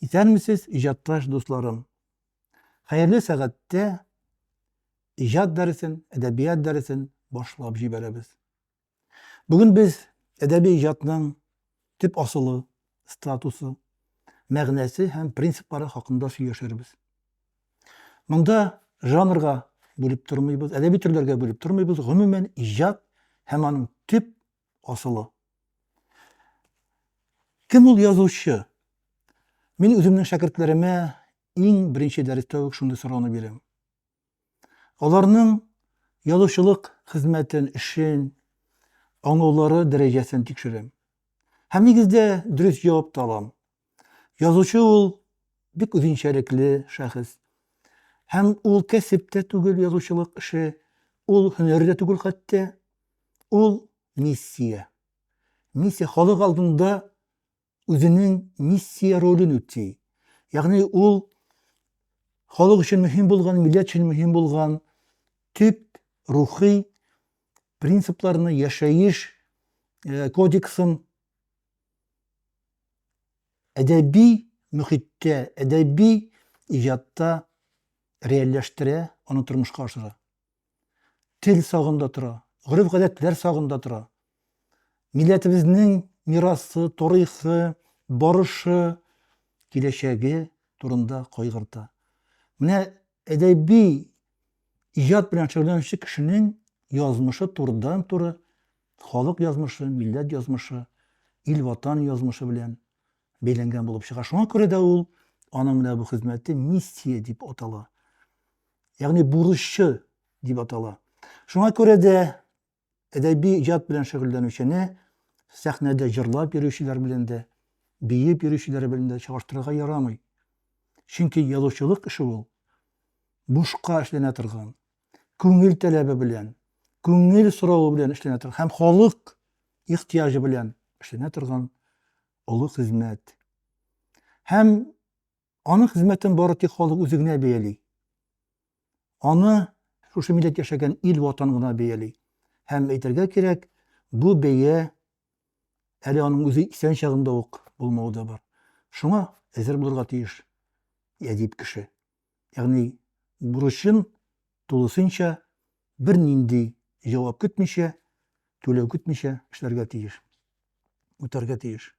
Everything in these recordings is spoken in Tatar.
Исәнмесез, иҗатташ дусларым! Хәерле сәгатьтә иҗат дәресен, әдәбият дәресен башлап җибәрәбез. Бүген без әдәби иҗатның төп асылы, статусы, мәгънәсе һәм принциплары хакында сөйләшербез. Монда жанрга бүлеп тормыйбыз, әдәби төрләргә бүлеп тормыйбыз, гомумән иҗат һәм аның төп асылы. Кем ул язучы? Мин үземнең шәкертләремә иң беренче дәрестә үк шундый сорауны бирәм. Аларның язучылык хезмәтен, эшен, аңлаулары дәрәҗәсен тикшерәм. Һәм нигездә дөрес җавап та алам. Язучы ул бик үзенчәлекле шәхес. Һәм ул кәсеп тә түгел язучылык эше, ул һөнәр дә түгел хәтта, ул миссия. Миссия халык алдында үзенең миссия ролен үти. Ягъни ул халык өчен мөһим булган, милләт өчен мөһим булган төп рухи принципларны, яшәеш э, кодексын әдәби мөхиттә, әдәби иҗатта реальләштерә, аны тормышка ашыра. Тел сагында тора, гореф-гадәтләр сагында тора. Милләтебезнең мирасы, тарихы, барышы, киләчәге турында кайгырта. Менә әдәби иҗат белән шөгыльләнүче кешенең язмышы турыдан-туры Халык язмышы, милләт язмышы, ил-ватан язмышы белән бәйләнгән булып чыга. Шуңа күрә дә ул, аның менә бу хезмәте миссия дип атала. Ягъни бурычы дип атала. Шуңа күрә дә әдәби иҗат белән шөгыльләнүчене сәхнәдә җырлап йөрүчеләр белән дә, биеп йөрүчеләр белән дә чагыштырырга ярамый. Чөнки язучылык эше ул бушка эшләнә торган, күңел таләбе белән, күңел соравы белән эшләнә торган һәм халык ихтыяҗы белән эшләнә торган олы хезмәт. Һәм аның хезмәтен бары тик халык үзе генә бәяли. Аны шушы милләт яшәгән ил ватан гына бәяли. Һәм әйтергә кирәк, бу бәя әле аның үзе исән чагында ук булмауы да бар. Шуңа әзер булырга тиеш әдип кеше. ягъни бурычын тулысынча, бернинди җавап көтмичә, түләү көтмичә эшләргә тиеш, үтәргә тиеш.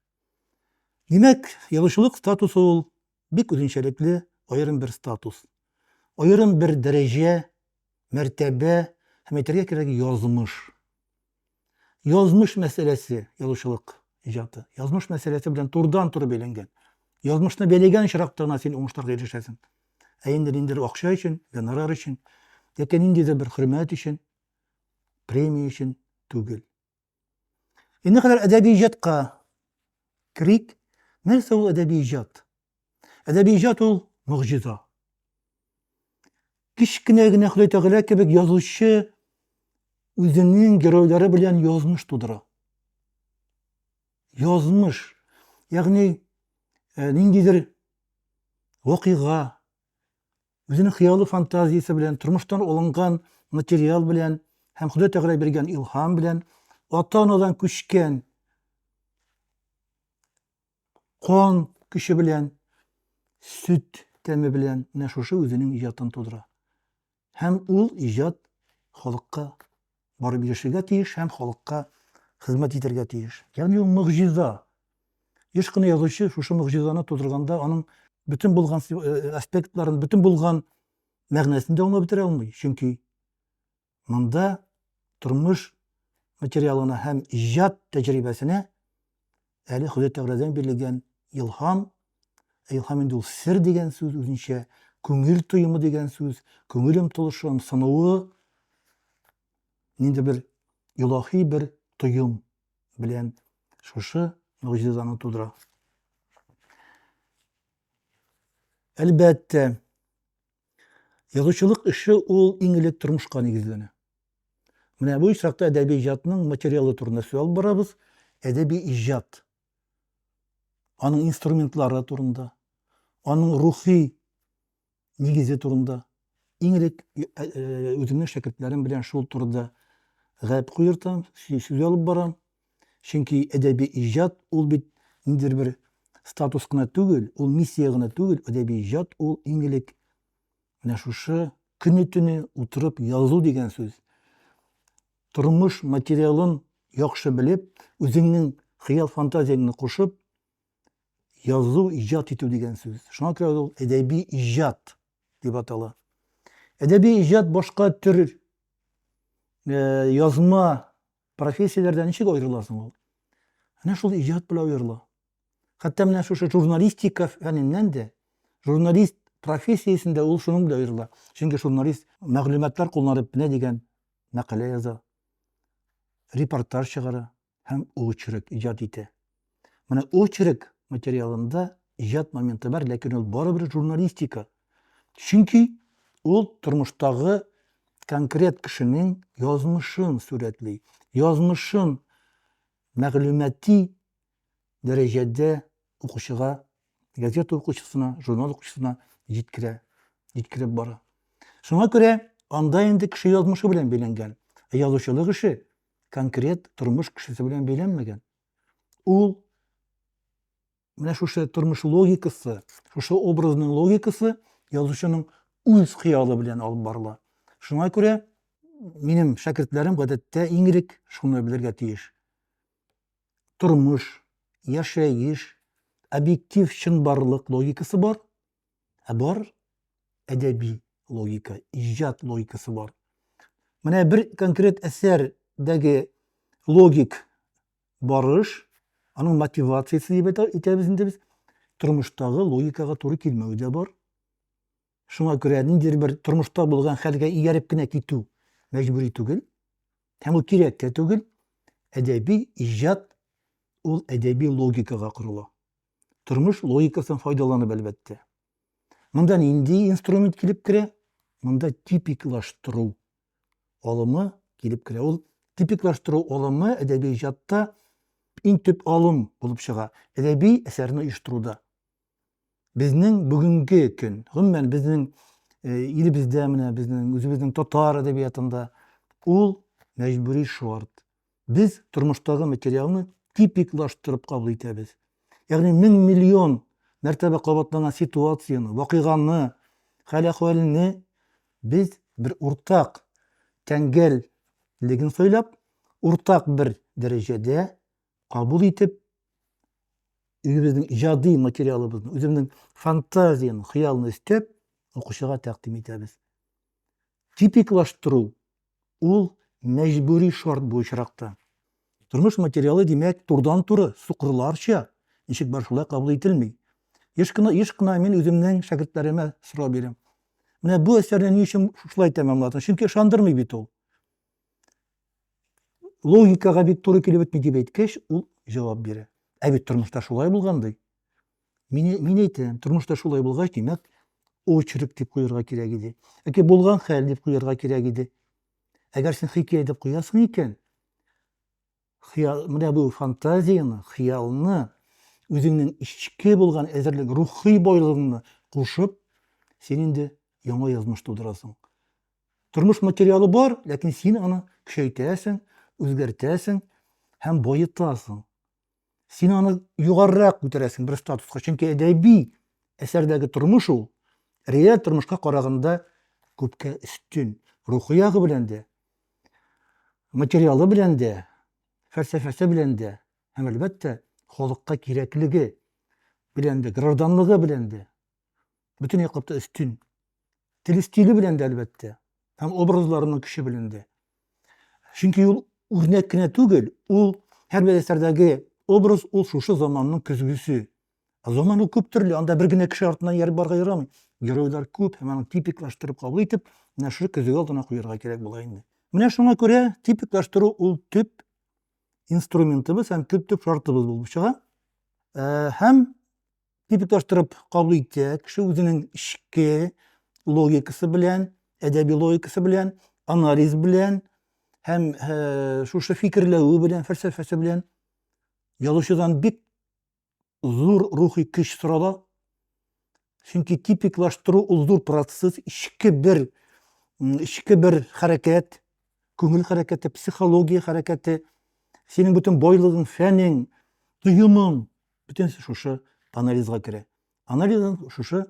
Димәк, язучылык статусы ул бик үзенчәлекле аерым бер статус. Аерым бер дәрәҗә, мәртәбә һәм әйтергә кирәк язмыш. Язмыш мәсьәләсе, язучылык иҗаты. Язмыш мәсьәләсе белән турыдан-туры бәйләнгән. Язмышны бәйләгән очракта гына син уңышларга ирешәсең. Ә инде ниндидер акча өчен, гонорар өчен, яки ниндидер бер хөрмәт өчен, премия өчен түгел. Инде кадәр әдәби иҗатка керик. Нәрсә ул әдәби иҗат? Әдәби иҗат ул могҗиза. Кечкенә генә Ходай Тәгалә кебек язучы үзенең геройлары белән язмыш тудыра. Язмыш, ягъни э, ниндидер вакыйга, үзенең хыялы фантазиясе белән, тормыштан алынган материал белән һәм Ходай Тәгалә биргән илһам белән ата-анадан күчкән кан көче белән, сөт тәме белән менә шушы үзенең иҗатын тудыра. Һәм ул иҗат халыкка барып ирешергә тиеш һәм халыкка хезмәт итәргә тиеш. Ягъни ул могҗиза. Еш кына язучы шушы могҗизаны тудырганда аның бөтен булган э, э, аспектларын, бөтен булган мәгънәсен дә аңлап бетерә алмый. Чөнки Монда тормыш материалына һәм иҗат тәҗрибәсенә әле Ходай Тәгаләдән бирелгән илһам, ә илһам инде ул сер дигән сүз үзенчә, күңел тоемы дигән сүз, күңел омтылышы, ымсынуы, нинди бер илаһи бер тоем белән шушы могҗизаны тудыра. Әлбәттә, Язучылык эше ул иң элек тормышка нигезләнә. Менә бу очракта әдәби иҗатның материалы турында сүз алып барабыз, әдәби иҗат, аның инструментлары турында, аның рухи нигезе турында. Иң элек э, э, үземнең шәкертләрем белән шул турыда гәп куертам, сүз алып барам. Чөнки әдәби иҗат ул бит ниндидер бер статус кына түгел, ул миссия гына түгел, әдәби иҗат ул иң элек менә шушы көне-төне утырып язу дигән сүз. Тормыш материалын яхшы белеп, үзеңнең хыял-фантазияңне кушып, язу, иҗат итү дигән сүз. Шуңа күрә ул әдәби иҗат дип атала. Әдәби иҗат башка төр э, язма Профессияләрдә ничек аерыла соң ул? Әнә шул иҗат белән аерыла. Хәтта менә шушы журналистика фәненнән дә, журналист профессиясендә ул шуның белән аерыла. Чөнки журналист мәгълүматлар кулланып менә дигән мәкалә яза, репортаж чыгара һәм очерк иҗат итә. Менә очерк материалында иҗат моменты бар, ләкин ул барыбер журналистика. Чөнки ул тормыштагы конкрет кешенең язмышын сурәтли, язмышын мәгълүмати дәрәҗәдә укучыга, газета укучысына, журнал укучысына җиткерә, җиткереп бара. Шуңа күрә анда инде кеше язмышы белән бәйләнгән, ә язучылык эше конкрет тормыш кешесе белән бәйләнмәгән. Ул менә шушы тормыш логикасы, шушы образның логикасы язучының үз хыялы белән алып барыла. Шуңа күрә минем шәкертләрем гадәттә иң элек шуны белергә тиеш. Тормыш, яшәеш, объектив чынбарлык логикасы бар, Ә бар әдәби логика, иҗат логикасы бар. Менә бер конкрет әсәрдәге логик барыш, аның мотивациясе дип әйтәбез инде без, тормыштагы логикага туры килмәве дә бар. Шуңа күрә ниндидер бер тормышта булган хәлгә ияреп кенә китү мәҗбүри түгел. Һәм ул кирәк тә түгел. Әдәби иҗат ул әдәби логикага корыла. Тормыш логикасыннан файдаланып, әлбәттә. Монда нинди инструмент килеп керә? Монда типиклаштыру алымы килеп керә. Ул типиклаштыру алымы әдәби иҗатта иң төп алым булып чыга. Әдәби әсәрне оештыруда. Безнең бүгенге көн, гомумән безнең э, илебездә менә безнең үзебезнең татар әдәбиятында ул мәҗбүри шарт. Без тормыштагы материалны типиклаштырып кабул итәбез. Ягъни мең миллион мәртәбә кабатланган ситуацияне, вакыйганы, хәл-әхвәлне без бер уртак тәңгәллеген сайлап, уртак бер дәрәҗәдә кабул итеп, үзебезнең иҗади материалыбызны, үзебезнең фантазияне, хыялны өстәп, укучыга тәкъдим итәбез. Типиклаштыру ул мәҗбүри шарт бу очракта. Тормыш материалы, димәк, турыдан-туры, сукырларча, ничек бар шулай кабул ителми. Еш кына, еш кына мин үземнең шәкертләремә сорау бирәм. Менә бу әсәрне ни өчен шулай тәмамладың? Чөнки ышандырмый бит ул. Логикага бит туры килеп бетми дип әйткәч, ул җавап бирә. Ә бит тормышта шулай булган ди. Мин, мин әйтәм, тормышта шулай булгач, димәк, очерк дип куярга кирәк иде. Яки булган хәл дип куярга кирәк иде. Әгәр син хикәя дип куясың икән, хыял, менә бу фантазияны, хыялны, үзеңнең эчке булган әзерлек, рухи байлыгыңны кушып, син инде яңа язмыш тудырасың. Тормыш материалы бар, ләкин син аны көчәйтәсең, үзгәртәсең һәм баетасың. Син аны югарырак күтәрәсең бер статуска, чөнки әдәби әсәрдәге тормыш ул реаль тормышка караганда күпкә өстен. Рухи ягы белән дә, материалы белән дә, фәлсәфәсе белән дә һәм әлбәттә халыкка кирәклеге белән дә, гражданлыгы белән дә. бөтен яклап та өстен. Теле стиле белән дә, әлбәттә, һәм образларының көче белән дә. Чөнки ул үрнәк кенә түгел, ул һәрбер әсәрдәге образ ул шушы заманның көзгесе. Ә заман ул күп төрле, анда бер генә кеше артыннан ияреп барырга ярамый. Геройлар күп һәм аны типиклаштырып кабул итеп, менә шушы көзге алдына куярга кирәк була инде. Менә шуңа күрә типиклаштыру ул төп инструментыбыз һәм төп-төп шартыбыз булып чыга. Ә, һәм типиклаштырып кабул итә. Кеше үзенең эчке логикасы белән, әдәби логикасы белән, анализ белән һәм ә, шушы фикерләве белән, фәлсәфәсе белән язучыдан бик зур рухи көч сорала. Чөнки типиклаштыру ул зур процесс, эчке бер эчке бер хәрәкәт, күңел хәрәкәте, психология хәрәкәте, синең бөтен байлыгың, фәнең, тоемың, Бөтенесе шушы анализга керә. Анализдан шушы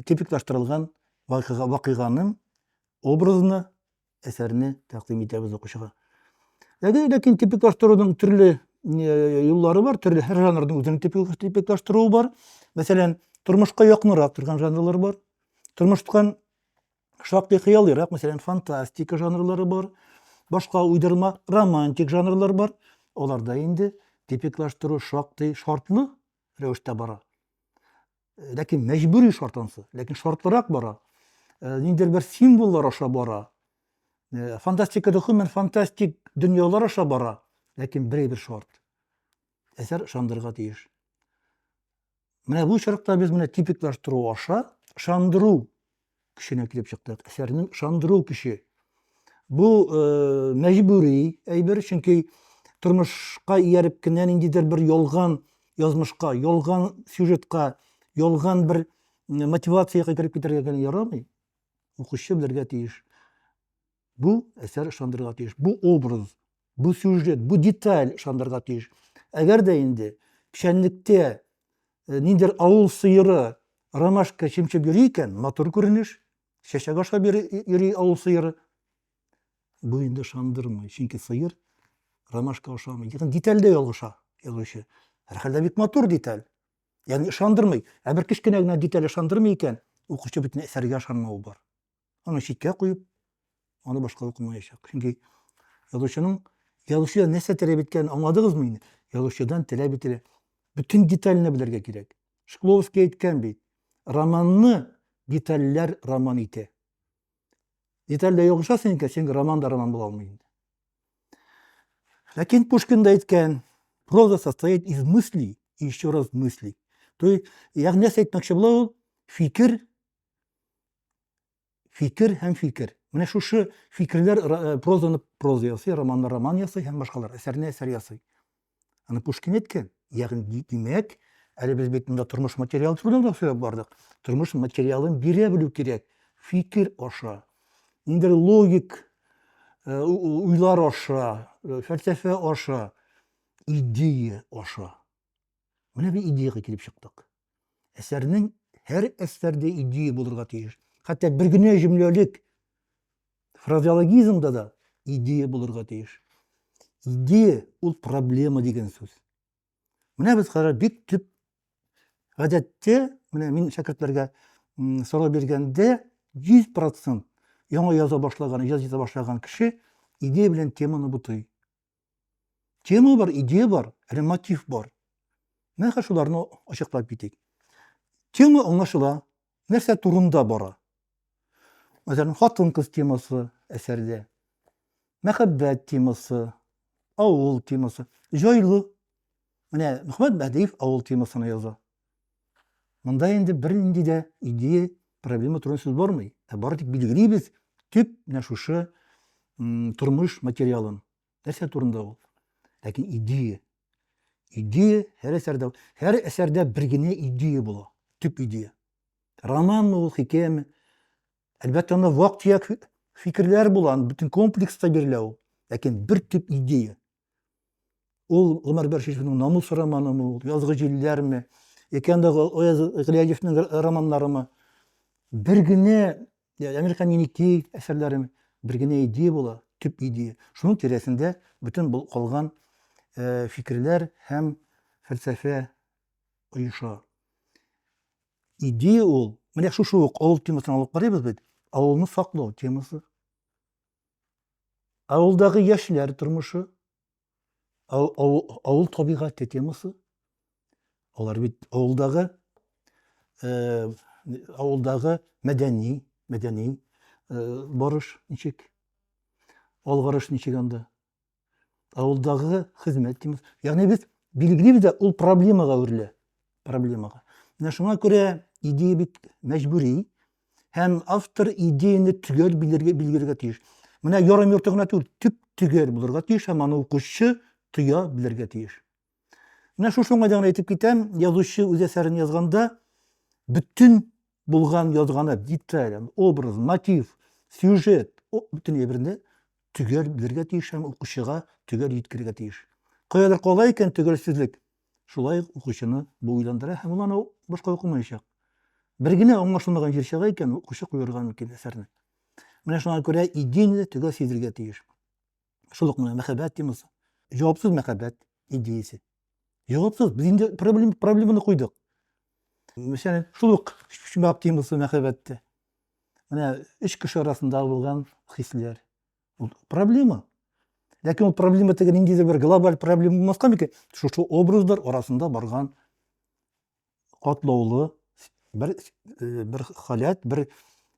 типиклаштырылган вакыйга, вакыйганың образына әсәрне тәкъдим итәбез укучыга. Ләкин, ләкин типиклаштыруның төрле э, юллары бар, төрле һәр жанрның үзенең типиклаштыруы бар. Мәсәлән, тормышка якынрак торган жанрлар бар. Тормыштан Шактый хыялыйрак, мәсәлән, фантастика жанрлары бар, башка уйдырма романтик жанрлар бар. Аларда инде типиклаштыру шактый шартлы рәвештә бара. Э, ләкин мәҗбүри шарт ансы, ләкин шартлырак бара. Э, ниндидер бер символлар аша бара. Э, фантастикада гомумән фантастик дөньялар аша бара, ләкин берәй бер шарт. әсәр ышандырырга тиеш. Менә бу очракта без менә типиклаштыру аша ышандыру көченә килеп чыктык. Әсәрнең ышандыру көче. Бу э, мәҗбүри әйбер, чөнки тормышка ияреп кенә ниндидер бер ялган язмышка, ялган сюжетка, ялган бер мотивациягә кереп китәргә генә ярамый. Укучы белергә тиеш. Бу әсәр ышандырырга тиеш. Бу образ, бу сюжет, бу деталь ышандырырга тиеш. Әгәр дә инде печәнлектә э, ниндер авыл сыеры ромашка чемчеп йөри икән, матур күренеш, чәчәк ашап йөри авыл сыеры. Бу инде ышандырмый, чөнки сыер ромашка ашамый. Ягъни детальдә ялгыша язучы. Һәрхәлдә бик матур деталь. Ягъни ышандырмый. Ә бер кечкенә генә деталь ышандырмый икән, укучы бөтен әсәргә ышанмавы бар. аны читкә куеп, аны башка укымаячак. Чөнки язучының язучыдан нәрсә таләп иткәнен аңладыгызмы инде? Язучыдан таләп ителә. Бөтен деталенә белергә кирәк. Шкловский әйткән бит. Романны детальләр роман итә. Детальдә ягыша синең кәсең роман да роман була алмый инде. Ләкин Пушкин да әйткән, проза состоит из мыслей и еще раз мыслей. То есть, ягъни нәрсә әйтмәкче була ул? Фикер фикер һәм фикер. Менә шушы фикерләр э, прозаны проза ясый, романны роман ясый һәм башкалар, әсәрне әсәр ясый. Аны Пушкин әйткән. Ягъни димәк, әле без бит монда тормыш материалы турында да сөйләп бардык. Тормыш материалын бирә белү кирәк. Фикер аша. Инде логик э, уйлар аша, э, фәлсәфә аша, идея аша. Менә бу идеягә килеп чыктык. Әсәрнең һәр әсәрдә идея булырга тиеш. Хәтта бер генә җөмләлек фразеологизмда да идея булырга тиеш. Идея ул проблема дигән сүз. Менә без карар бик төп гадәттә, менә мин шәкертләргә сорау биргәндә 100% яңа яза башлаган, иҗат итә башлаган кеше идея белән теманы бутый. Тема бар, идея бар, әле мотив бар. Менә хәзер шуларны ачыклап китик. Тема аңлашыла, нәрсә турында бара. Мәсәлән, хатын-кыз темасы әсәрдә, мәхәббәт темасы, авыл темасы, җайлы. Менә Мөхәммәт Бәдиев авыл темасына яза. Монда инде бернинди дә идея, проблема турында сүз бармый. Ә бары тик билгелибез төп менә шушы тормыш материалын. Нәрсә турында ул? Ләкин идея. Идея һәр әсәрдә, һәр әсәрдә бер генә идея була, төп идея. Романмы ул, хикәяме? Әлбәттә, анда вак-төяк фикерләр була, бөтен комплекста бирелә ул. Ләкин бер төп идея, Ул Гомәр Бәшишевның намус романымы, ул язгы җилләрме, икән дә Гыйләҗевнең романнарымы. Бер генә Әмир һәм Еникей әсәрләрем бер генә идея була, төп идея. Шуның тирәсендә бөтен бул калган э, фикерләр һәм фәлсәфә оеша. Идея ул, менә шушы ук авыл темасын алып карыйбыз бит, авылны саклау темасы. Авылдагы яшьләр тормышы, авыл табигате темасы. Алар бит авылдагы э, авылдагы мәдәни, мәдәни э, барыш ничек? Алгарыш ничек анда? Авылдагы хезмәт димиз. Ягъни без билгелибез дә ул проблемага әверелә. Проблемага. Менә шуңа күрә идея бит мәҗбүри һәм автор идеяны төгәл белергә билгеләргә тиеш. Менә ярым йорты гына түгел, төп төгәл булырга тиеш һәм аны укучы тоя белергә тиеш. Менә шушы уңайда гына әйтеп китәм, язучы үз әсәрен язганда бөтен булган язганы, деталь, образ, мотив, сюжет, бөтен әйберне төгәл белергә тиеш һәм укучыга төгәл җиткерергә тиеш. Каядыр кала икән төгәлсезлек, шулай ук укучыны бу уйландыра һәм ул аны башка укымаячак. Бер генә аңлашылмаган җир чыга икән, укучы куерга мөмкин әсәрне. Менә шуңа күрә идеяне төгәл сизергә тиеш. Шул ук менә мәхәббәт темасы. Җавапсыз мәхәббәт идеясе. Җавапсыз. Без инде проблем, проблеманы куйдык. Мәсәлән, шул ук чумак темасы мәхәббәттә. Менә өч кеше арасында булган хисләр. Ул проблема. Ләкин ул проблема теге ниндидер бер глобаль проблема булмаска микән? Шушы образлар арасында барган катлаулы бер э, бер халят, бер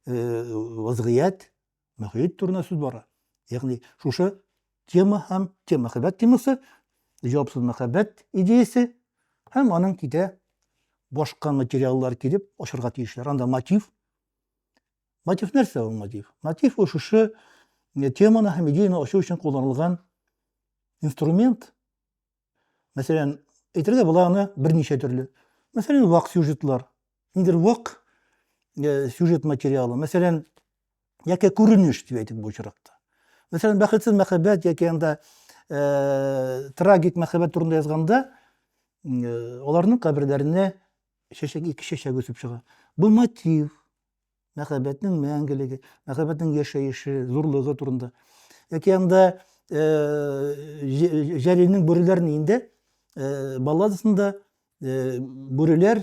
э, вазгыять, мөхит турында сүз бара. Ягъни шушы тема һәм тема мәхәббәт темасы, җавапсыз мәхәббәт идеясе һәм аның китә башка материаллар килеп ашырга тиешләр. Анда мотив. Мотив нәрсә ул мотив? Мотив ул шушы э, теманы һәм идеяны ачу өчен кулланылган инструмент, Мәсәлән, әйтергә була аны берничә төрле. Мәсәлән, вак сюжетлар. Ниндидер вак э, сюжет материалы. Мәсәлән, яки күренеш дип әйтик бу очракта. Мәсәлән, бәхетсез мәхәббәт яки анда э, трагик мәхәббәт турында язганда, э, аларның каберләренә чәчәк ике чәчәк үсеп чыга. Бу мотив, мәхәббәтнең мәңгелеге, мәхәббәтнең яшәеше, зурлыгы турында. Яки анда э, Җәлилнең бүреләрен инде э, балладасында э, бүреләр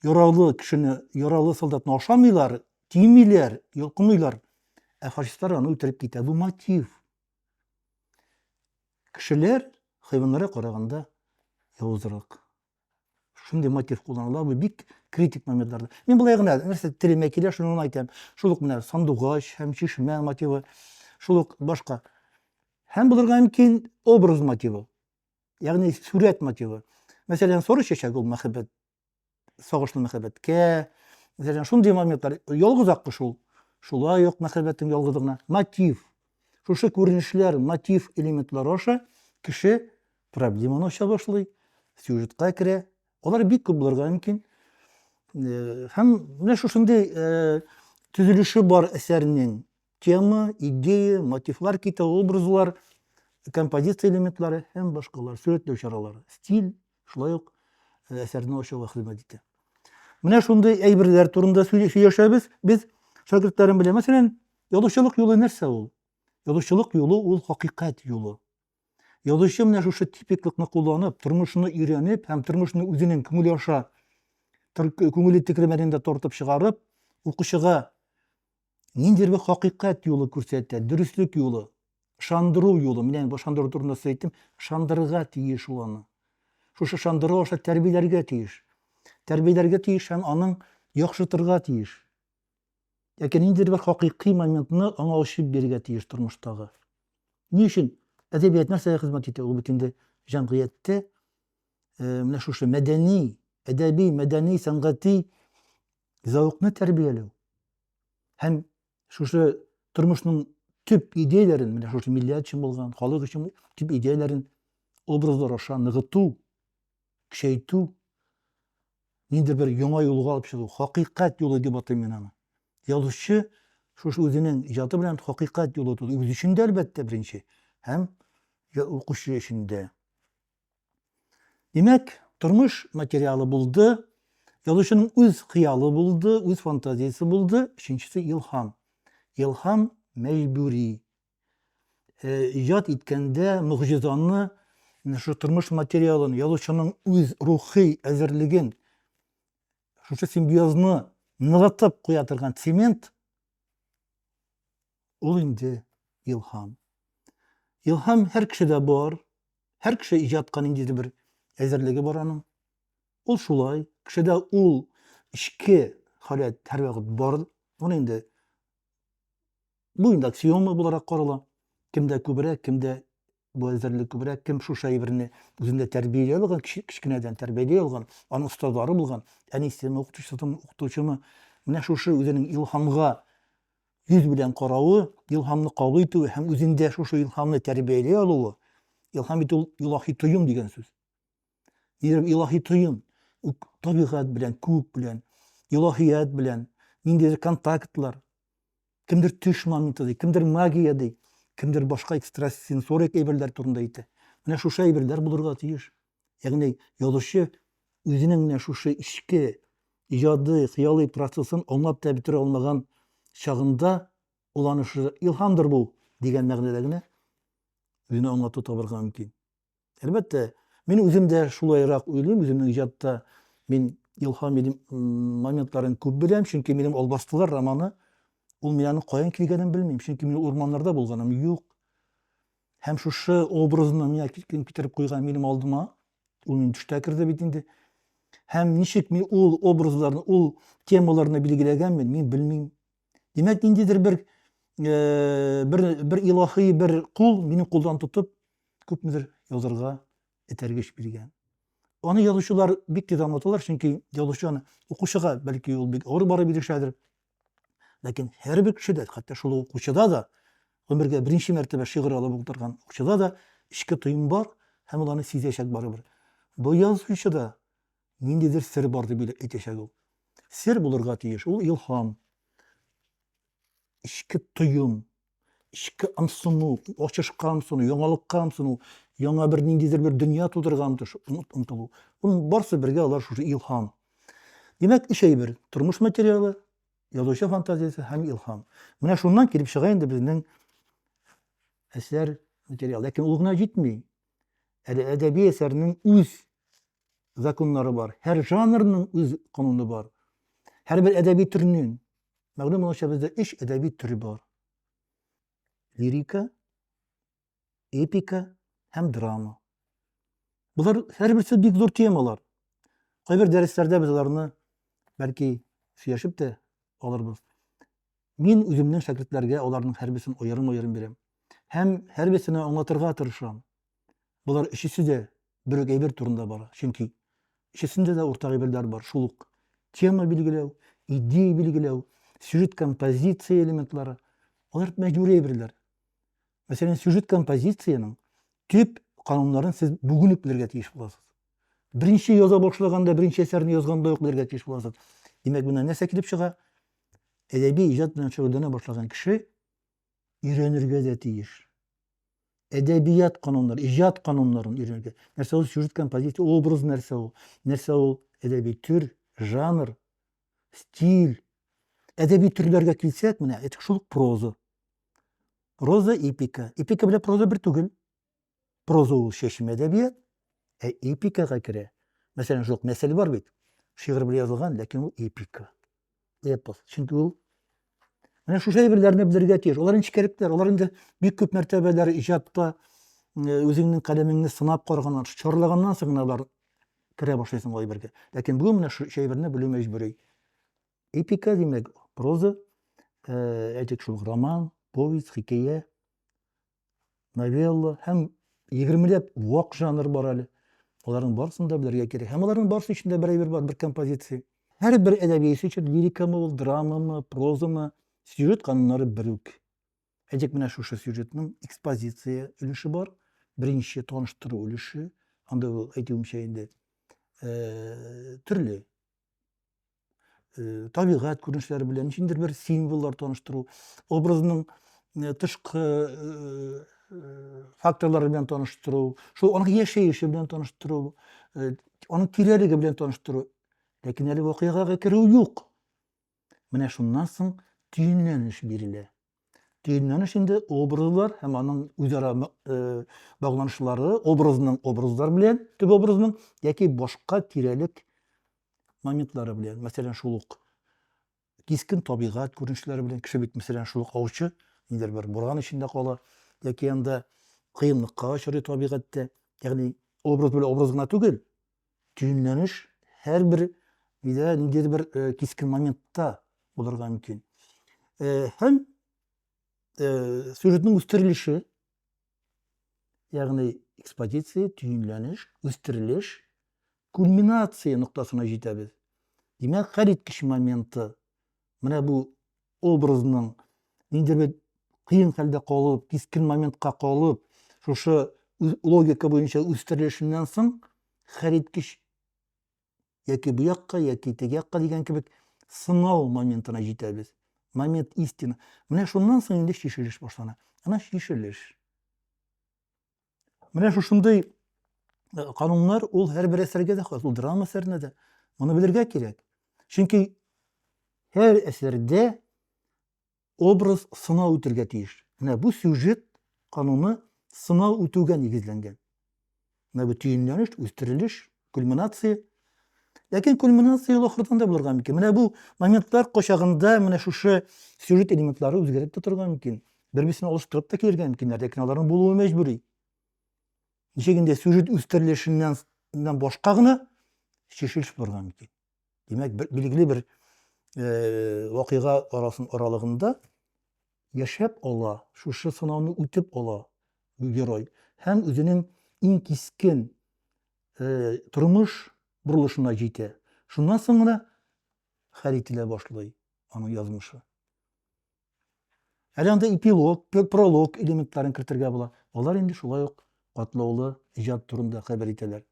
яралы кешене, яралы солдатны ашамыйлар, тимиләр, йолкымыйлар, ә фашистлар аны үтереп китә. Бу мотив. Кешеләр хайваннарга караганда явызрак. шундый мотив кулланыла бу бик критик моментларда мин былай гына нәрсә телемә килә шуны гына әйтәм шул ук менә сандугач һәм чишмә мотивы шул ук башка һәм булырга мөмкин образ мотивы ягъни сурәт мотивы мәсәлән соры чәчәк ул мәхәббәт сагышлы мәхәббәткә мәсәлән шундый моментлар ялгыз аккы шул шулай ук мәхәббәтнең ялгызлыгына мотив шушы күренешләр мотив элементлары аша кеше Проблеманы ача башлый, сюжетка керә. Алар бик күп булырга мөмкин. Э, һәм менә шушындый э, төзелеше бар әсәрнең тема, идея, мотивлар китә, образлар, композиция элементлары һәм башкалар, сурәтләү чаралары, стиль, шулай ук э, әсәрне ачуга хезмәт итә. Менә шундый әйберләр турында сөйләшәбез без шәкертләрем белән. Мәсәлән, язучылык юлы нәрсә ул? Язучылык юлы ул хакыйкать юлы. Язучы менә шушы типиклыкны кулланып, тормышны өйрәнеп һәм тормышны үзенең күңеле аша күңеле тегермәнен дә тартып чыгарып, укучыга ниндидер бер хакыйкать юлы күрсәтә, дөреслек юлы, шандыру юлы. Менә бу шандыру турында сүз әйттем, шандырырга тиеш ул аны. Шушы шандыру аша тәрбияләргә тиеш. Тәрбияләргә тиеш һәм аның яхшыртырга тиеш. яки ниндидер бер хакыйкый моментны аңа ачып бирергә тиеш тормыштагы. Ни өчен әдәбият нәрсәгә хезмәт итә? Ул бит инде җәмгыятьтә э, менә шушы мәдәни, әдәби, мәдәни, сәнгати зәвыкны тәрбияләү һәм шушы тормышның төп идеяләрен, менә шушы милләт өчен булган, халык өчен төп идеяләрен образлар аша ныгыту, көчәйтү, нинди бер яңа юлга алып чыгу, хакыйкать юлы дип атыйм мин аны. Язучы шушы үзенең иҗаты белән хакыйкать юлы тоту, үзе өчен дә, әлбәттә, беренче, һәм укучы өчен дә. Димәк, тормыш материалы булды, язучының үз хыялы булды, үз фантазиясе булды, өченчесе илһам. Илһам мәҗбүри, э, иҗат иткәндә могҗизаны шул тормыш материалын язучының үз рухи әзерлеген шушы симбиозны ныгытып куя торган цемент ул инде илһам илһам һәр кешедә бар һәр кеше иҗатка ниндидер бер әзерлеге бар аның ул шулай кешедә ул эчке халәт һәрвакыт бар ул инде Бу инде аксиома буларак карала. Кемдә күбрәк, кемдә бу әзерлек күбрәк, кем шушы әйберне үзендә тәрбияләп алган, кечкенәдән тәрбияләп алган, аның остазлары булган, әнисеме, укытучысымы, укытучымы, менә шушы үзенең илһамга йөз белән каравы, илһамны кабул итүе һәм үзендә шушы илһамны тәрбияләп алуы, илһам итү ул илаһи тоем дигән сүз. Дидем, илаһи тоем, табигать белән, күк белән, илаһият белән, ниндидер контактлар, кемдер төш моменты ди, кемдер магия ди, кемдер башка экстрасенсорик әйберләр турында әйтә. Менә шушы әйберләр булырга тиеш. Ягъни язучы үзенең менә шушы эчке иҗади, хыялый процессын аңлап та бетерә алмаган чагында ул аны шушы илһамдыр бу дигән мәгънәдә генә үзенә аңлату табарга мөмкин. Әлбәттә, мин үзем дә шулайрак уйлыйм, үземнең иҗатта мин илһам моментларын күп беләм, чөнки минем Албастылар романы, ул мин аның каян килгәнен белмим, чөнки мин урманнарда булганым юк. Һәм шушы образны миңа кем китереп куйган минем алдыма, ул минем төштә керде бит инде. Һәм ничек мин ул образларны, ул темаларны билгеләгәнмен, мин белмим. Димәк, ниндидер бер э, бер бер илаһи бер кул мине кулдан тотып, күпмедер язырга этәргеч биргән. Аны язучылар бик тиз аңлаталар, чөнки язучы аны укучыга бәлки ул бик авыр барып ирешәдер. Ләкин һәрбер кешедә, хәтта шул укучыда да, гомергә беренче мәртәбә шигырь алып утырган укучыда да эчке тоем бар һәм ул аны сизәчәк барыбер. Бу язучы да Ниндидер сер бар дип әйтәчәк ул. Сер булырга тиеш, ул илһам, эчке тоем, эчке ымсыну, ачышка ымсыну, яңалыкка ымсыну, яңа бер ниндидер бер дөнья тудырырга ынтылу. Ул барсы бергә алар шушы илһам. Димәк, өч әйбер: тормыш материалы, язучы фантазиясе һәм илһам. Менә шуннан килеп чыга инде безнең әсәр материалы. Ләкин ул гына җитми. Әле әдәби әсәрнең үз законнары бар. Һәр жанрның үз кануны бар. Һәрбер әдәби төрнең мәгълүм булганча бездә өч әдәби төре бар. Лирика, эпика һәм драма. Болар һәрберсе бик зур темалар. Кайбер дәресләрдә без аларны бәлки сөйләшеп тә алырбыз. Мин үземнең шәкертләргә аларның һәрберсен аерым-аерым бирәм һәм һәрберсенә аңлатырга тырышам. Болар өчесе дә бер үк әйбер турында бара, чөнки өчесендә дә уртак әйберләр бар, шул ук тема билгеләү, идея билгеләү, сюжет композиция элементлары, алар мәҗбүри әйберләр. Мәсәлән, сюжет композициянең төп кануннарын сез бүген үк белергә тиеш буласыз. Беренче яза башлаганда, беренче әсәрне язганда ук белергә тиеш буласыз. Димәк, монда нәрсә килеп чыга? әдәби иҗат белән шөгыльләнә башлаган кеше өйрәнергә дә тиеш. Әдәбият кануннары, иҗат кануннарын өйрәнергә. Нәрсә ул сюжет композиция, образ нәрсә ул? Нәрсә ул әдәби төр, жанр, стиль? Әдәби төрләргә килсәк, менә әйтик шул проза. Проза эпика. Эпика белән проза бер түгел. Проза ул чәчмә әдәбият, ә эпикага керә. Мәсәлән, шул мәсәл бар бит. Шигырь белән язылган, ләкин ул эпика. Эпос. Чөнки ул Менә шушы әйберләрне белергә тиеш. Алар нечкәлекләр, алар инде бик күп мәртәбәләр иҗатта э, үзеңнең каләмеңне сынап караганнан, чарлаганнан соң гына алар керә башлыйсың ул әйбергә. Ләкин бүген менә шу әйберне белү мәҗбүри. Эпика димәк, проза, э, әйтик шул роман, повесть, хикәя, новелла һәм егермеләп вак жанр бар әле. Аларның барысын да белергә кирәк. Һәм аларның барысы өчен дә бер әйбер бар, бер композиция. Һәр бер әдәби эш өчен лирикамы ул, драмамы, прозамы, сюжет кануннары бер үк. Әйтик, менә шушы сюжетның экспозиция өлеше бар, беренче таныштыру өлеше, анда ул әйтүемчә инде, э, төрле э, табигать күренешләре белән ничендер бер символлар таныштыру, образның э, тышкы э, факторлары белән таныштыру, шул аның яшәеше белән таныштыру, аның тирәлеге белән таныштыру. Ләкин әле вакыйгага керү юк. Менә шуннан соң төенләнеш бирелә. Төенләнеш инде образлар һәм аның үзара э, багланышлары, образның образлар белән, төп образның яки башка тирәлек моментлары белән, мәсәлән, шул ук кискен табигать күренешләре белән кеше бит мәсәлән шул ук аучы, ниндидер бер буран эчендә кала яки анда кыенлыкка очрый табигатьтә. Ягъни образ белән образ гына түгел, Төенләнеш һәрбер өйдә ниндидер бер э, кискен моментта булырга мөмкин. Э, һәм э, сюжетның үстерелеше, ягъни экспозиция, төенләнеш, үстерелеш, кульминация ноктасына җитәбез. Димәк, хәл иткеч моменты Менә бу образның нинди бер кыен хәлдә калып, кискен моментка калып, шушы логика буенча үстерелешеннән соң хәлиткеч яки бу якка, яки теге якка дигән кебек сынау моментына җитәбез. Момент истина. Менә шуннан соң инде чишелеш башлана. Ана чишелеш. Менә шушындый кануннар ул һәрбер әсәргә дә хас, ул драма әсәренә дә. Моны белергә кирәк. Чөнки һәр әсәрдә образ сынау үтергә тиеш. Менә бу сюжет кануны сынау үтүгә нигезләнгән. Менә бу төенләнеш, үстерелеш, Кульминация. Ләкин кульминация ул ахырдан да булырга мөмкин. Менә бу моментлар кочагында менә шушы сюжет элементлары үзгәреп тә торырга мөмкин. Бер-берсен алыштырып та килергә мөмкиннәр, ләкин аларның булуы мәҗбүри. Ничек инде сюжет үстерелешеннән башка гына чишелеш булырга мөмкин. Димәк, бер, билгеле бер э, вакыйга арасын аралыгында яшәп ала, шушы сынауны үтеп ала герой һәм үзенең иң кискен э, тормыш борылышына җитә. Шуннан соң гына хәл ителә башлый аның язмышы. Әле анда эпилог, пролог элементларын кертергә була. Алар инде шулай ук катлаулы иҗат турында хәбәр итәләр.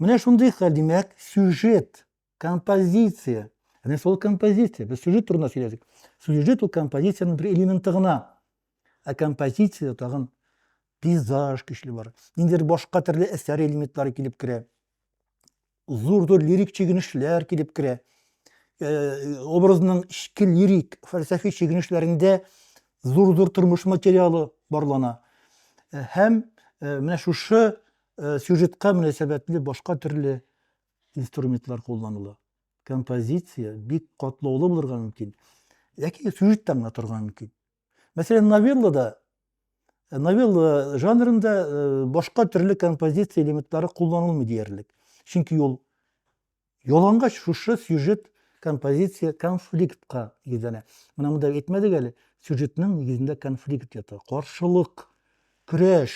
Менә шундый хәл, димәк, сюжет, композиция. Әнә шул композиция. Без сюжет турында сөйләдек. Сюжет ул композициянең бер элементы гына. Ә композициядә тагын пейзаж көчле бар. Ниндидер башка төрле әсәр элементлары килеп керә. зур-зур лирик чигенешләр килеп керә. Э, образның эчке лирик, фәлсәфи чигенешләрендә зур-зур тормыш материалы барлана. Э, һәм э, менә шушы сюжетка мөнәсәбәтле башка төрле инструментлар кулланыла. Композиция бик катлаулы булырга мөмкин. Ләкин сюжеттан гына торырга мөмкин. Мәсәлән, новеллада, э, новелла жанрында э, башка төрле композиция элементлары кулланылмый диярлек. Чөнки ул ялангач шушы сюжет композиция конфликтка нигезләнә. Менә монда әйтмәдек әле, сюжетның нигезендә конфликт ята. Каршылык, көрәш,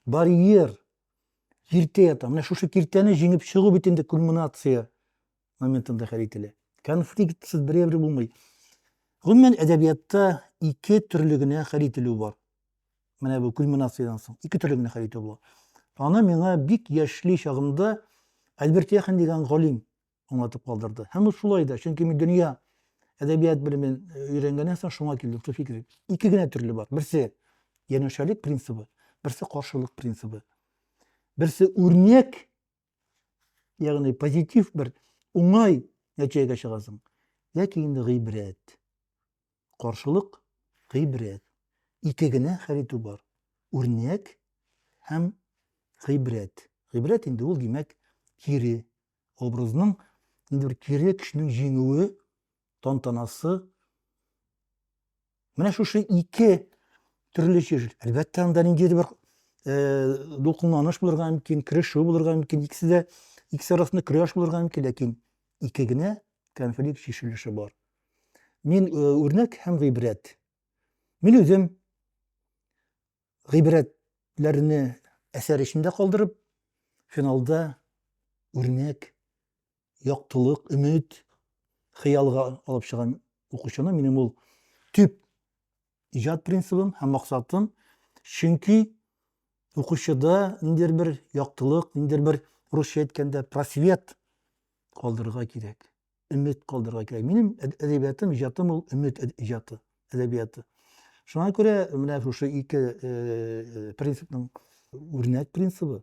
барьер, киртә ята. Менә шушы киртәне җиңеп чыгу бит инде кульминация моментында хәл ителә. Конфликтсыз бер әйбер булмый. Гомумән әдәбиятта ике төрле генә хәл ителү бар. Менә бу кульминациядән соң ике төрле генә хәл итү була. Аны миңа бик яшьли чагымда Альберт Яхин дигән галим аңлатып калдырды. Һәм ул шулай да, чөнки мин дөнья әдәбият белемен э, өйрәнгәннән соң шуңа килдем, шул фикер. Ике генә төрле бар. Берсе янәшәлек принцибы, берсе каршылык принцибы. Берсе үрнәк ягъни позитив бер уңай нәтиҗәгә чыгасың ләкин инде гыйбрәт каршылык гыйбрәт ике генә хәл итү бар үрнәк һәм гыйбрәт гыйбрәт инде ул димәк кире образның инде бер кире кешенең җиңүе тантанасы менә шушы ике төрле җир. Әлбәттә, анда ниндидер бер э, дулкынланыш булырга мөмкин, керешү булырга мөмкин, икесе дә икесе арасында көрәш булырга мөмкин, ләкин ике генә конфликт чишелеше бар. Мин э, үрнәк һәм гыйбрәт. Мин үзем гыйбрәтләрне әсәр эчендә калдырып, финалда үрнәк яктылык, өмет, хыялга алып чыгам укучыны. Минем ул төп иҗат принцибым һәм максатым. Чөнки укучыда ниндидер бер яктылык, ниндидер бер русча әйткәндә просвет калдырырга кирәк, өмет калдырырга кирәк. Минем әдәбиятым, иҗатым ул өмет иҗаты, әдәбияты. Шуңа күрә менә шушы ике принципның үрнәк принцибы.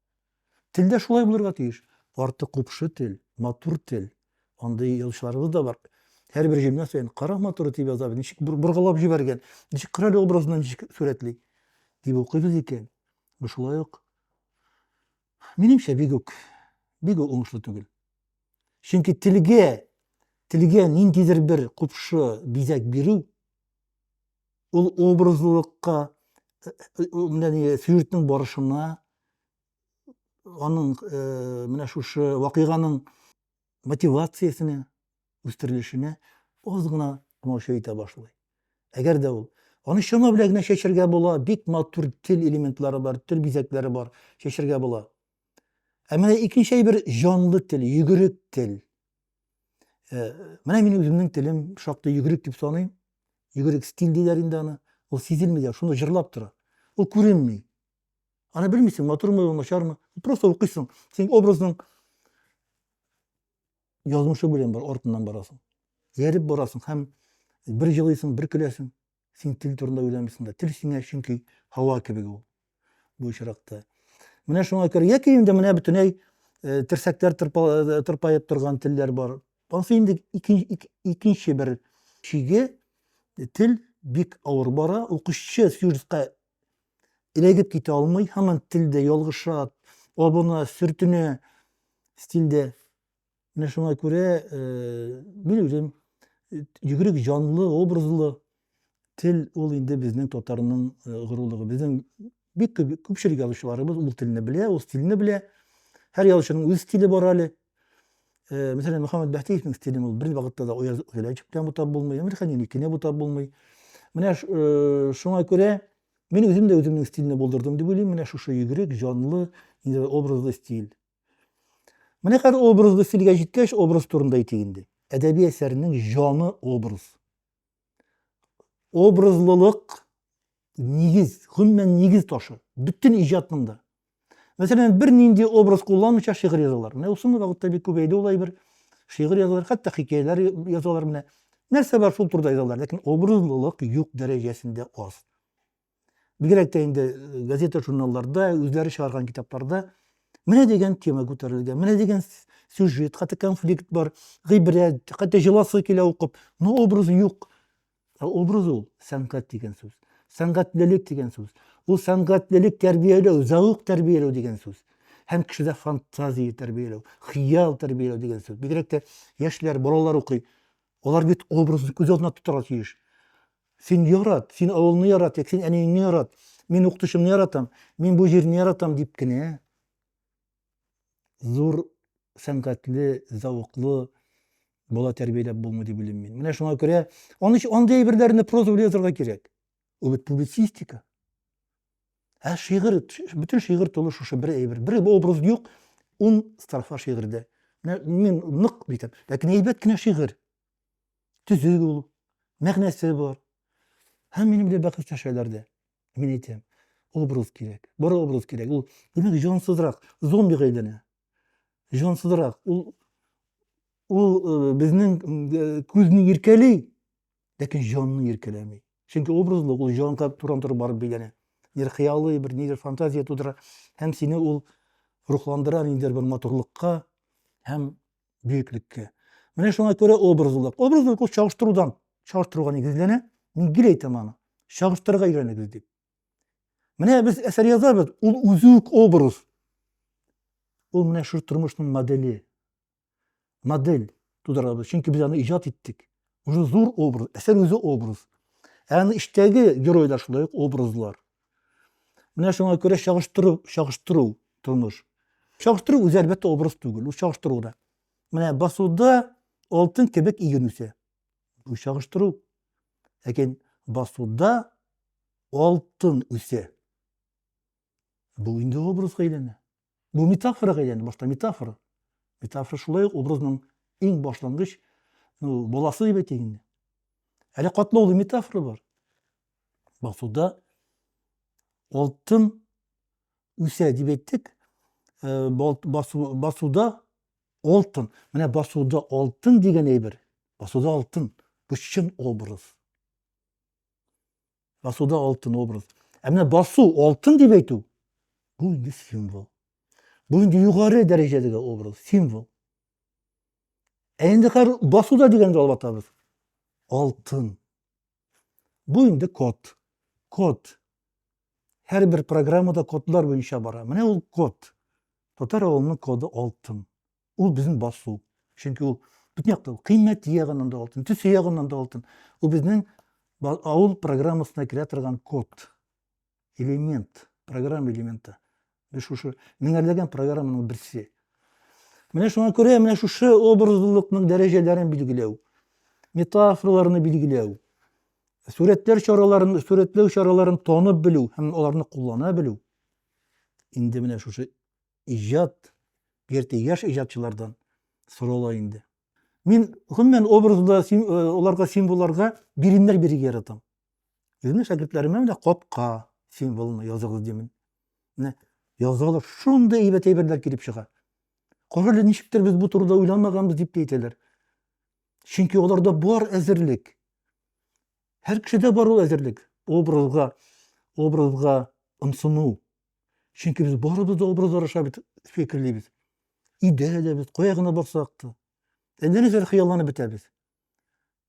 Тел дә шулай булырга тиеш. Арты купшы тел, матур тел. Андый язучыларыбыз да бар. Һәрбер җөмлә саен кара матуры дип яза, ничек боргалап җибәргән, ничек кырале образына ничек сурәтли дип укыйбыз икән. Бу шулай ук минемчә бик үк бик үк уңышлы түгел. Чөнки телгә телгә ниндидер бер купшы бизәк бирү Ул образлылыкка, э, э, менә ни, сюжетның барышына, аның э, менә шушы вакыйганың мотивациясенә, үстерелешенә аз гына тамаша итә башлый. Әгәр дә ул аны чама белән генә чәчәргә була, бик матур тел элементлары бар, тел бизәкләре бар, чәчәргә була. Ә менә икенче әйбер җанлы тел, йөгерек тел. Э, менә мин үземнең телем шактый йөгерек дип саныйм. Йөгерек стиль диләр инде аны. Ул сизелми дә, шуны җырлап тора. Ул күренми. Аны белмисең, матурмы, начармы. Просто укыйсың. Син образның язмышы белән бар, артыннан барасың. Ярып барасың һәм бер җылыйсың, бер көләсең. Син тел турында уйланмыйсың да. Тел сиңа чөнки һава кебек ул. Бу очракта. Менә шуңа күрә яки инде менә бөтенләй э, терсәкләр э, тырпаеп торган телләр бар. Ансы инде икенче бер чиге э, тел бик авыр бара. Укучы сюжетка эләгеп китә алмый, һаман телдә ялгыша, абына, сөртенә стильдә. Менә шуңа күрә э, белүрем йөгерек җанлы, образлы тел ул инде безнең татарның э, горурлыгы. Безнең бик күп күпчелек язучыларыбыз ул телне белә, ул стильне белә. Һәр язучының үз стиле бар әле. Э, мәсәлән, Мөхәммәд Бәхтиевнең стилен ул бер вакытта да Ояз Гөләҗев белән бутап булмый, Әмир Хәниникене бутап булмый. Менә э, шуңа күрә мин үзем дә үземнең стильне булдырдым дип уйлыйм. Менә шушы йөгерек җанлы, инде образлы стиль. Менә хәзер образлы стильгә җиткәч, образ турында әйтик инде. Әдәби әсәрнең җаны образ. Образлылык нигез, гомумән нигез ташы. Бөтен иҗатның да. Мәсәлән, бер нинди образ кулланмыйча шигырь язалар. Менә соңгы вакытта бик күбәйде ул әйбер. Шигырь язалар, хәтта хикәяләр язалар менә. Нәрсә бар шул турыда язалар, ләкин образлылык юк дәрәҗәсендә аз. бигрәк тә инде э, газета журналларда үзләре чыгарган китапларда менә дигән тема күтәрелгән менә дигән сюжет хәтта конфликт бар гыйбрәт хәтта җыласы килә укып но образы юк ә образ ул сәнгать дигән сүз сәнгатьлелек дигән сүз ул сәнгатьлелек тәрбияләү зәвык тәрбияләү дигән сүз һәм кешедә фантазия тәрбияләү хыял тәрбияләү дигән сүз бигрәк тә яшьләр балалар укый алар бит образны күз алдына тотарга тиеш Син ярат, син авылны ярат, як син әниеңне ярат, мин укытучымны яратам, мин бу җирне яратам дип кенә зур сәнгатьле, зәвыклы бала тәрбияләп булмый дип уйлыйм мин. Менә шуңа күрә аны андый әйберләрне проза белән язарга кирәк. Ул бит публицистика. Ә шигырь, бөтен шигырь тулы шушы бер әйбер. Бер образ юк, ун строфа шигырьдә. Мин нык битеп, ләкин әйбәт кенә шигырь. Төзек ул, мәгънәсе бар. Һәм минем белән бәхәс төшәләр дә. Мин әйтәм, образ кирәк, бер образ кирәк. Ул димәк җансызрак, зомби әйләнә. Җансызрак. Ул ул э, безнең э, күзне иркәли, ләкин җанны иркәләми. Чөнки образлык ул җанга туран туры барып бәйләнә. Нидер хыялый, бер нидер фантазия тудыра һәм сине ул рухландыра ниндидер бер матурлыкка һәм бөеклеккә. Менә шуңа күрә образлылык. Образлылык ул чагыштырудан, чагыштыруга нигезләнә. Мин гел әйтәм аны. Чагыштырырга өйрәнегез дип. Менә без әсәр язабыз, ул үзе үк образ. Ул менә шул тормышның модели. Модель тудырабыз, чөнки без аны иҗат иттек. Уже зур образ, әсәр үзе образ. Ә аны эчтәге геройлар шулай ук образлар. Менә шуңа күрә чагыштыру, чагыштыру тормыш. Чагыштыру үзе әлбәттә образ түгел, ул чагыштыру да. Менә басуда алтын кебек иген үсә. Бу чагыштыру. Ләкин басуда алтын үсә. Бу инде образга әйләнә. Бу метафорага әйләнде башта, метафора. Метафора шулай ук образның иң башлангыч ну, баласы дип әйтик инде. Әле катлаулы метафора бар. Басуда алтын үсә дип әйттек, э, басуда алтын. Менә басуда алтын дигән әйбер. Басуда алтын. Бу чын образ. Басуда алтын образ. Ә менә басу, алтын дип әйтү, бу инде символ. Бу инде югары дәрәҗәдәге образ, символ. Ә инде хәзер басуда дигәндә алып атабыз. Алтын. Бу инде код. Код. Һәрбер программада кодлар буенча бара. Менә ул код. Татар авылының коды алтын. Ул безнең басу. Чөнки ул бөтен яктан ул кыйммәте ягыннан да алтын, төсе ягыннан да алтын. Ул безнең авыл программасына керә торган код, элемент, программа элементы. Без шушы меңәрләгән программаның берсе. Менә шуңа күрә менә шушы образлылыкның дәрәҗәләрен билгеләү, метафораларны билгеләү, сурәтләр чараларын, сурәтләү чараларын танып белү һәм аларны куллана белү инде менә шушы иҗат, бигрәк яшь иҗатчылардан сорала инде. Мин гомумән образда аларга символларга биремнәр бирергә яратам. Үземнең шәкертләремә менә капка символын языгыз димен. Менә язалар, шундый әйбәт әйберләр килеп чыга. Кара ничектер без бу турыда уйламаганбыз дип әйтәләр. Чөнки аларда бар әзерлек. Һәр кешедә бар ул әзерлек. Образга, образга ымсыну, Чөнки без барыбыз да образлар аша бит фикерлибез. Өйдә дә без, кая гына барсак та. Әллә ниләр хыялланып бетәбез.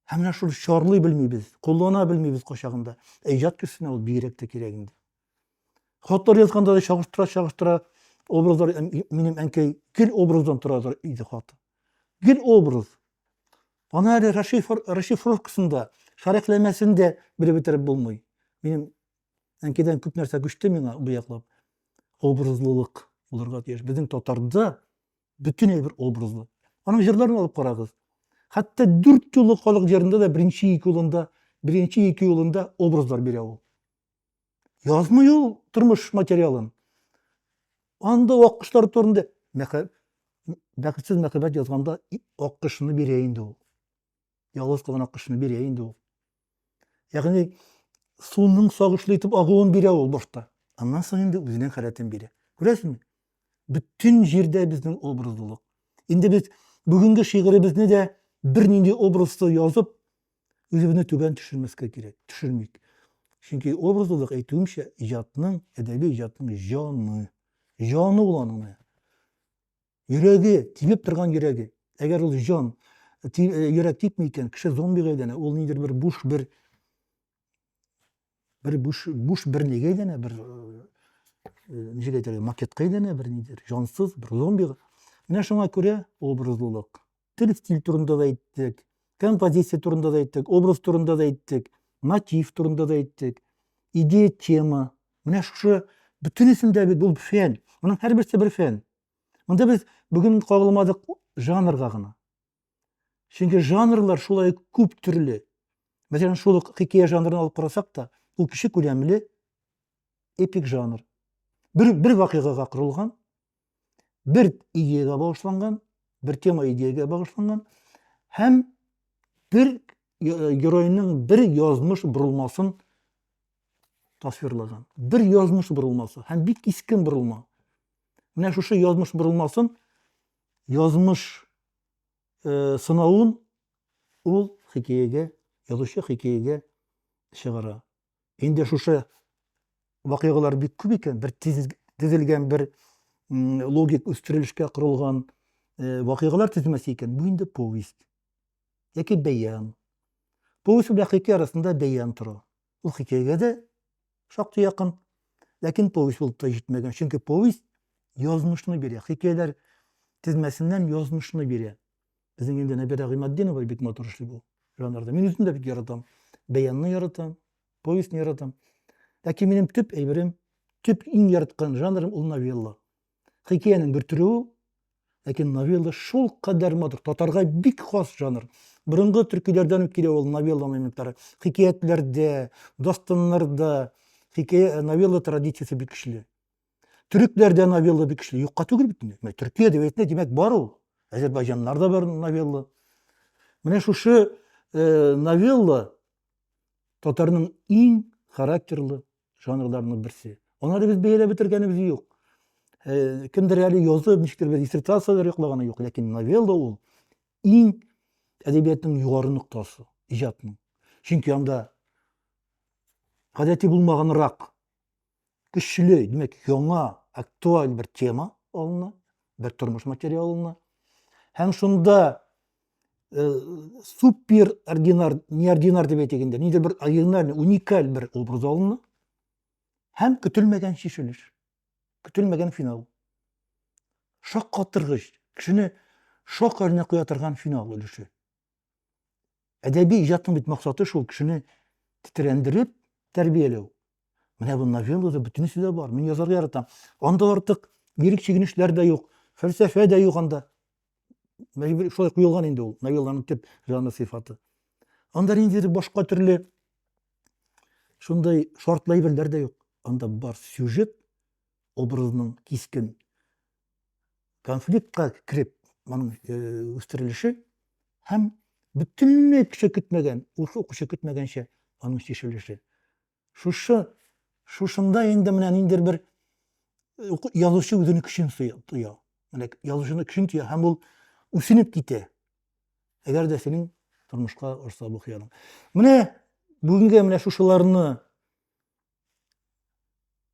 Һәм менә шуны чарлый белмибез, куллана белмибез качагында. Ә иҗат кешесенә ул бигрәк тә кирәк инде. Хатлар язганда да чагыштыра, чагыштыра образлар минем әнкәй гел образдан тора иде хаты. Гел образ. Аны әле расшифровкасында, шәрехләмәсен дә белеп бетереп булмый. Минем әнкәйдән күп нәрсә күчте миңа бу яклап. Образлылык булырга тиеш. Безнең татарда бөтен әйбер образлы. Аның җырларын алып карагыз. Хәтта дүрт юлы халык җырында да беренче ике юлында, беренче ике юлында образлар бирә ул. Язмый ул тормыш материалын. Анда аккышлар турында бәхетсез мәхәббәт язганда аккышны бирә инде ул. Ялгыз калган аккошны бирә инде ул. Ягъни суның сагышлы итеп агуын бирә ул башта. Аннан соң инде үзенең халәтен бирә. Күрәсезме? Бөтен җирдә безнең образлылык. Инде без бүгенге шигыребезне дә бернинди образсыз язып, үзебезне түбән төшермәскә кирәк, төшермик. Чөнки образлылык әйтүемчә иҗатның, әдәби иҗатның җаны. Җаны ул аның. Йөрәге, тибеп торган йөрәге. Әгәр ул җан, ти, э, йөрәк типми икән, кеше зомбига әйләнә. Ул нидер бер буш бер бер буш буш бер нигә әйләнә, бер э, э, ничек әйтергә, макетка әйләнә, бер нидер, җансыз, бер зомбига. Менә шуңа күрә образлылык. Тел стиль турында да әйттек, композиция турында да әйттек, образ турында да әйттек, мотив турында да әйттек, идея, тема. Менә шушы бөтенесендә бит ул фән. Моның һәрберсе бер фән. Монда без бүген кагылмадык жанрга гына. Чөнки жанрлар шулай күп төрле. Мәсәлән, шул ук хикәя жанрын алып карасак та, ул кеше күләмле эпик жанр. Бер бер вакыйгага корылган, бер идеягә багышланган, бер тема идеягә багышланган һәм бер э, геройның бер язмыш бурылмасын тасвирлаган. Бер язмыш бурылмасы һәм бик искен бурылма. Менә шушы язмыш борылмасын, язмыш э, сынавын ул хикәягә, язучы хикәягә чыгара. Инде шушы вакыйгалар бик күп икән, бер тезелгән бер логик үстерелешкә корылган э, вакыйгалар тезмәсе икән, бу инде повесть яки бәян. Повесть белән хикәя арасында бәян тора. Ул хикәягә дә шактый якын, ләкин повесть булып та җитмәгән. Чөнки повесть язмышны бирә, хикәяләр тезмәсеннән язмышны бирә. Безнең инде Нәбирә Гыйматдинова бик матур эшли бу жанрда. Мин үзем дә бик яратам. Бәянны яратам, повестьны яратам. Ләкин минем төп әйберем, төп иң яраткан жанрым ул новелла. Хикәянең бер төре ул, ләкин новелла шул кадәр матур, татарга бик хас жанр. Борынгы төркиләрдән үк килә ул новелла моментлары. Хикәятләрдә, дастаннарда хикәя э, новелла традициясе бик көчле. Төрекләрдә новелла бик көчле. Юкка түгел бит инде. Төркия әдәбиятында димәк бар ул. Азербайҗаннарда бар новелла. Менә шушы э, новелла татарның иң характерлы жанрларының берсе. Аны әле без бәяләп бетергәнебез юк. Э, кемдер әле язып, ничектер бер диссертацияләр йоклаганы юк, ләкин новелла ул иң әдәбиятның югары ноктасы, иҗатның. Чөнки анда гадәти булмаганрак, көчле, димәк, яңа, актуаль бер тема алына, бер тормыш материалына. Һәм шунда э, супер ординар, неординар дип әйтик инде, нидер бер оригинальный, уникаль бер образ алынды һәм көтелмәгән шешелеш, көтелмәгән финал. Шак катыргыч, кешене шок хәленә куя торган финал өлеше. Әдәби иҗатның бит максаты шул кешене тетрәндереп тәрбияләү, Менә бу новеллада бөтенесе дә бар. Мин язарга яратам. Анда артык лирик чигенешләр дә юк, фәлсәфә дә юк анда. Мәҗбүр шулай куелган инде ул новелланың төп жанр сыйфаты. Анда ниндидер башка төрле шундай шартлы әйберләр дә юк. Анда бар сюжет образының кискен конфликтка кереп моның э, үстерелеше һәм бөтенләй кеше көтмәгән ул укучы көтмәгәнчә аның чишелеше шушы шушында инде менә ниндидер бер э, язучы үзенең көчен тоя менә язучының көчен тоя һәм ул үсенеп китә әгәр дә синең тормышка ошса бу хыялың менә бүгенге менә шушыларны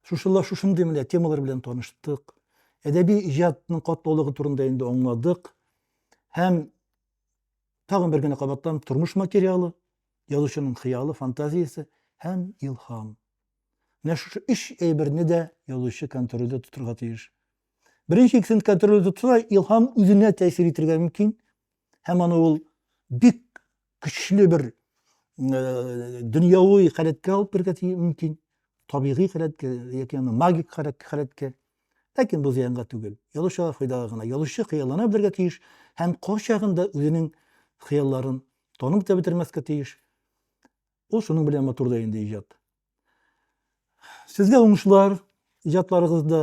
Шушылла шушындый менә темалар белән таныштык. Әдәби иҗатның катлаулыгы турында инде аңладык. Һәм тагын бер генә кабаттан тормыш материалы, язучының хыялы, фантазиясе һәм илһам. Менә шушы өч әйберне дә язучы контрольдә тотырга тиеш. Беренче икесен контрольдә тотса, илһам үзенә тәэсир итергә мөмкин, һәм аны ул бик көчле бер э, дөньяви халәткә алып керергә мөмкин табигый халәткә яки аны магик халәткә ләкин бу зыянга түгел язучыга файдага гына язучы хыяллана белергә тиеш һәм кайчагында үзенең хыялларын танып та бетермәскә тиеш ул шуның белән матур да инде иҗат сезгә уңышлар иҗатларыгызда